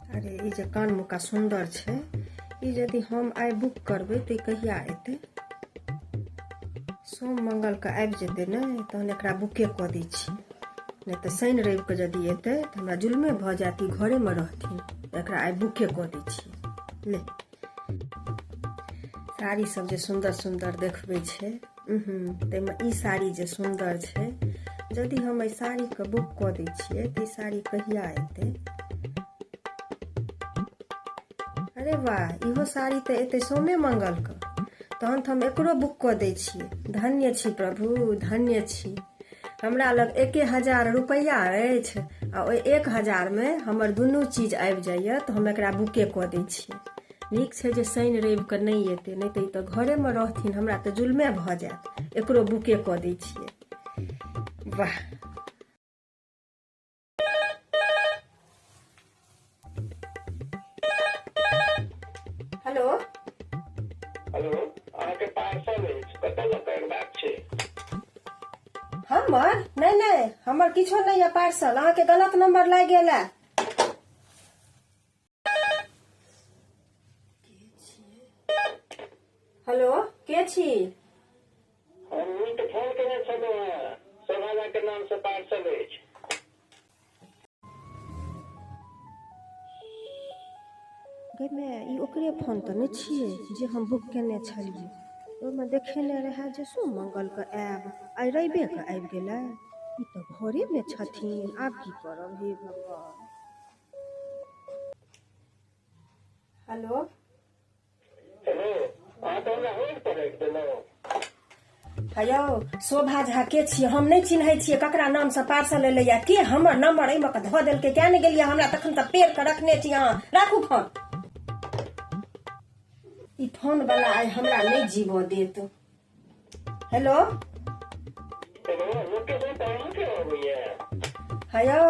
अरे ई जे कान मुका सुन्दर छै ई यदि हम आइ बुक करबै तऽ ई कहिया एतै सोम मङ्गलके आबि जेतै ने तहन एकरा बुके कऽ दै छी नहि तऽ शनि रविके यदि एतै तऽ हमरा जुलमे भऽ जायत ई घरेमे रहथिन एकरा आइ बुके कऽ दै छी ले साड़ी सब जे सुंदर सुंदर देखबे छे ताहिमे ई साड़ी जे सुंदर छे यदि हम एहि साड़ीके बुक कऽ दै छियै तऽ ई साड़ी कहिया एतै अरे वाह इहो साड़ी तऽ एतै सोमे मंगलके तहन तऽ हम एकरो बुक कऽ दै छियै धन्य छी प्रभु धन्य छी हमरा लग एके हजार रुपैआ अछि आ ओहि एक हजारमे हमर दुनू चीज आबि जाइए तऽ हम एकरा बुके कऽ दै छियै नीक छै जे शनि रविके नहि एतै नहि तऽ ई तऽ घरेमे रहथिन हमरा तऽ जुलमे भऽ जायत एकरो बुके कऽ दै छियै वाह हेलो हेलो अहाँके पार्सल अछि कतऽ लऽ कऽ अयबाक छै हमर नहि नहि हमर किछो नहि यऽ पार्सल अहाँके गलत नंबर लागि गेल है हेलो के छी हमहूँ तऽ फोन केने छलहुँ हेँ सोनाला के नाम से पार्सल अछि गई माय ई ओकरे फोन तऽ नहि छियै जे हम बुक केने छलियै ओहिमे देखेने रहए जे सो मंगलके आयब आइ रविएके आबि गेलै ई तऽ घरेमे छथिन आब की करब हे भगवान हेलो हेलो अहाँ तऽ हमरा होल्ड पर राखि देलहुँ हेयौ शोभा झा के छियै हम नहि चिन्है छियै ककरा नाम से पार्सल एलै या के हमर नंबर एहिमे के धऽ देलकै किया नहि गेलियै हमरा तखन तऽ पेड़ के रखने छी अहाँ राखू फोन ई फोन वाला आइ हमरा नहि जीवऽ देत हेलो हयो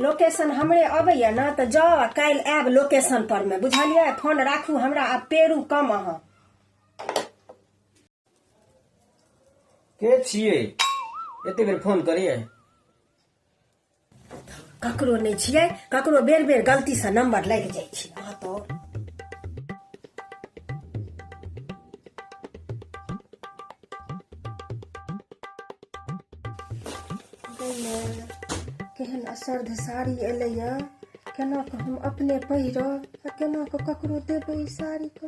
लोकेशन हमरे अबैया ने तऽ जाउ आ काल्हि आयब लोकेशन पर मे बुझलियै फोन राखू हमरा आ पेरू कम अहाँ के छियै एते बेर फोन करियै ककरो नहि छियै ककरो बेर बेर गलतीसँ नम्बर लागि जाइ छै अहाँ तऽ केहन असर्ध साड़ी एलैए केना कऽ हम अपने पहिरब आ केना कऽ ककरो देबै ई साड़ीके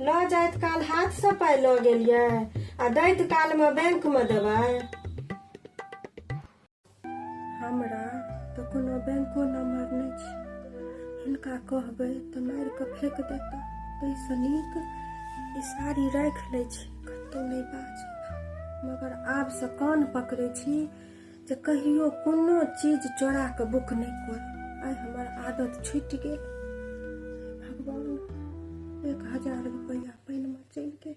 लऽ जाइत काल हाथसँ पाइ लऽ गेलियै आ दैत कालमे बैंकमे देबै हमरा तऽ कोनो बैंको नम्बर नहि छै हुनका कहबै तऽ मारि कऽ फेंक देता ताहिसँ नीक ई साड़ी राखि लै छी कतहु नहि बाजब मगर आबसँ कान पकड़ै छी जे कहियो कोनो चीज चोरा के बुक नहीं कर आई हमार आदत छूट गए भगवान एक हजार रुपया पानि में चलि गेल